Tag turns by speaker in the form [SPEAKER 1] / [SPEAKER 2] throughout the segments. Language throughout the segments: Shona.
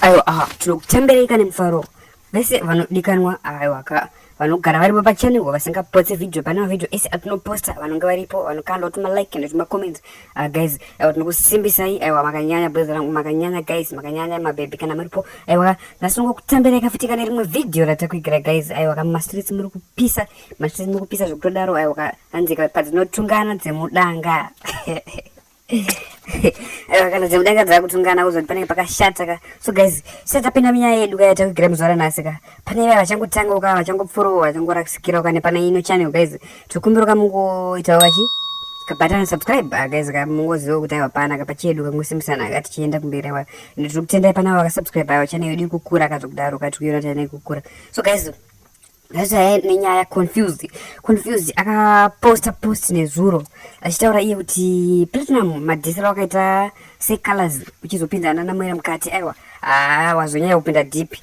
[SPEAKER 1] aiwa aha tinokutambereika nemufaro vese vanodikanwa aiwaka vanogara varipo pachanel vasingapotse video pane mavhidhio ese atinoposta vanonge varipo vanokanda kuti malike and kuti macomment uh, guys aiwa tinokusimbisai aiwa makanyanya bweza rangu makanyanya guys makanyanya mabhebhi kana muripo aiwa nhasi ungokutambereika futi kana rimwe vhidhio ratakuigira guys aiwa kamastreets muri kupisa Machisi mukupisa zvekutodaro ayo hanzika padzinotungana dzemudanga. Ayo kana dzemudanga dzakutungana kuzoti panenge pakashata ka. So guys, sasa tapinda munyaya yedu kaya takugira muzvara nhasi ka. Pane vaya vachangotanga uka vachangopfurowa vachangorasikira uka nepane ino channel guys. Tikumbira ka mungoita wachi kabhatana subscribe ah, guys ka mungoziva kuti ayo hapana ka pachedu kangosimusana ka tichienda kumberi awa. Ndiri kutendai pana vakasubscribe ayo channel yedu ikukura kazokudaro ka tikuona tana ikukura. So guys, Ndazaya nenyaya confused confused akaposta post nezuro achitaura iye kuti platinum madhisira wakaita secolors uchizopinda ana namwera mukati aiwa haa wazonyaya kupinda deep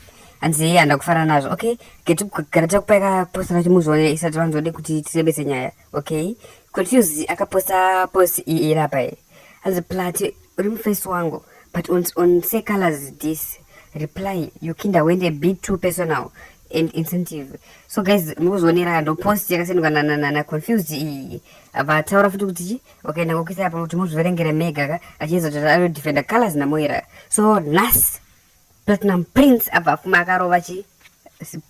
[SPEAKER 1] hanzi iye handa kufanana nazvo okay getu gara takupaika posta racho muzvione isati vanzode kuti tirebese nyaya Okay, Confused akaposta post iyi iri apa iyi. Hanzi Platy uri muface wangu but on, on say colors this reply Yukinda went a bit too personal and insensitive. So guys, mukuzvionera ndo post yakasendwa na na na, na Confused iyi. Vataura futi kuti chi wakaenda kokisa apa kuti muzviverengere mega ka achiedza kuti anodefenda colors na Moira. So nas Platinum Prince abva afuma akarova chi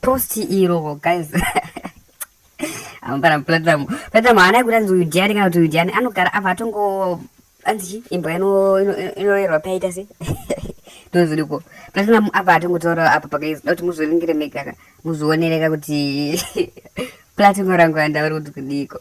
[SPEAKER 1] post iro guys amupara Platinum Platinum haana yekuti anzi uyu ndiani kana kuti uyu ndiani anogara abva atongo anzi chi imbwa inorerwa paita se ndozviriko Platinum abva atongotaura apa pakaizoda kuti muzviringire mega muzvionereka kuti Platinum rangu andauri kuti kudiiko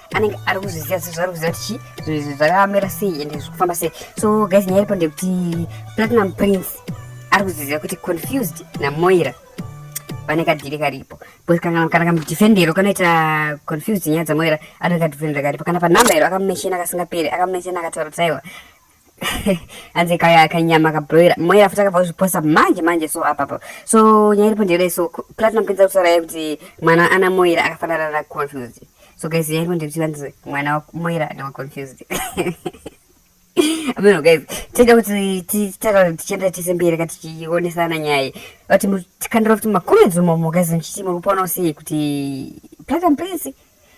[SPEAKER 1] anenge ari kuzviziva zvaari kuziva kuti chii zvakamera sei ende zviri kufamba sei so guys nyaya iripo ndekuti platinum prince ari kuzviziva kuti confused namoira pane kadhiri karipo kana kamudhifendero kanoita confused nyaya dzamoira anenge kadhifendero karipo kana panumber iro akamumesheni akasingaperi akamumesheni akataura kuti aiwa hanzi kaya kanyama kabroira mweya afuti akabva kuzviposa manje manje so apapa so nyaya iripo ndeyodai so platinum kuenza kutaura yaye kuti mwana ana moira akafanana na confused so guys nyaya iripo ndeyekuti vanzi mwana wamoira ndiwa confused ameno guys tinoda kuti titara tichienda tese mberi ka tichionesana nyaya vati tikandira kuti makomedzi umomo guys ndichiti muri kupaona usei kuti platinum prince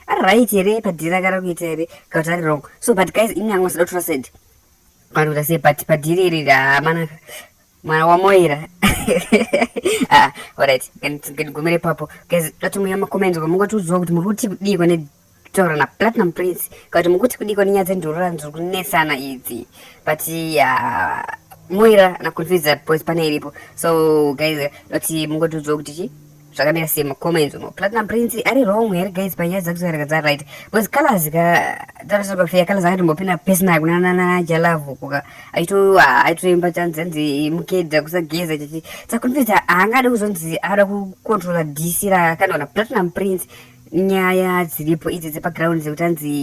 [SPEAKER 1] ari right here padhiri akara kuita here kauti ari wrong so but guys ini anga usada kutora said kana kuita sei but padhiri iri ramana mwana wamoira ah, alright ndigumire papo guys tatomuya macomments ko mungatiudziwa kuti muri kuti kudiiko ne taura naplatinum prince kuti mukuti kudiko nenyaya dzendurura ndiri kunetsana idzi but uh, moira naconfuse that boys pane iripo so guys kuti mungotiudziwa kuti chii zvakamira sei mucomments umo platinum prince ari wrong here guys panyaya dzakusakaraka dza right bcause colors ka tarisira pafeya colors akatombopinda pesina kunananajalavo kuka aito aitoimba chanzi anzi mukeda kusageza chichi sakunfidza haangade kuzonzi ada kucontrola dc rakanaona platinum prince nyaya dziripo idzi dzepaground dzekuti anzi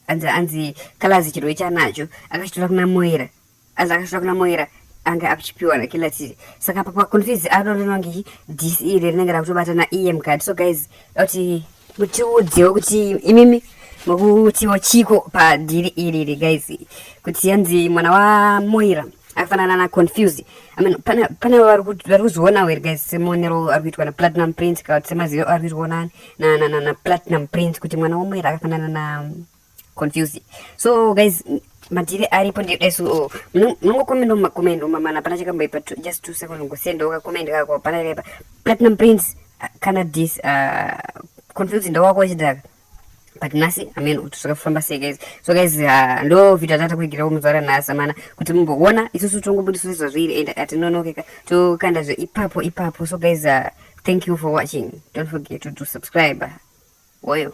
[SPEAKER 1] anzi anzi colors chirwe chanacho akachitora kuna moera Asi akasvika kuna Moira ange akuchipiwa nakila tiri saka apa paconfuse aro rinonge dc iri rinenge rakutobata naem card so guys kuti mutiudzewo kuti imimi mukutiwo chiko padhiri iri iri guys kuti yanzi mwana wamoira akafanana naconfuse i mean pane pane vari kuzvionawo here guys semuonero ari kuitwa naplatinum prince kana kuti semazivo ari kuitwa na na na na platinum prince kuti mwana wamoira akafanana na confused so guys madhiri aripo ndieso munongokomendo mumakomendo mamana hapana chakamboipa just two second ngosenda ukakomenda kako hapana chakaipa platinum prince ah, kana dis ah, confused ndawako wechidhaka but nhasi amen kuti zvakafamba sei guys so guys ah, ndo vhidho atata kuigirawo muzvara nhasi amana kuti mumboona isusu tongobudiso sezvazviri and atinonokeka tokanda zve ipapo ipapo so guys thank you for watching don't forget to, to subscribe woyo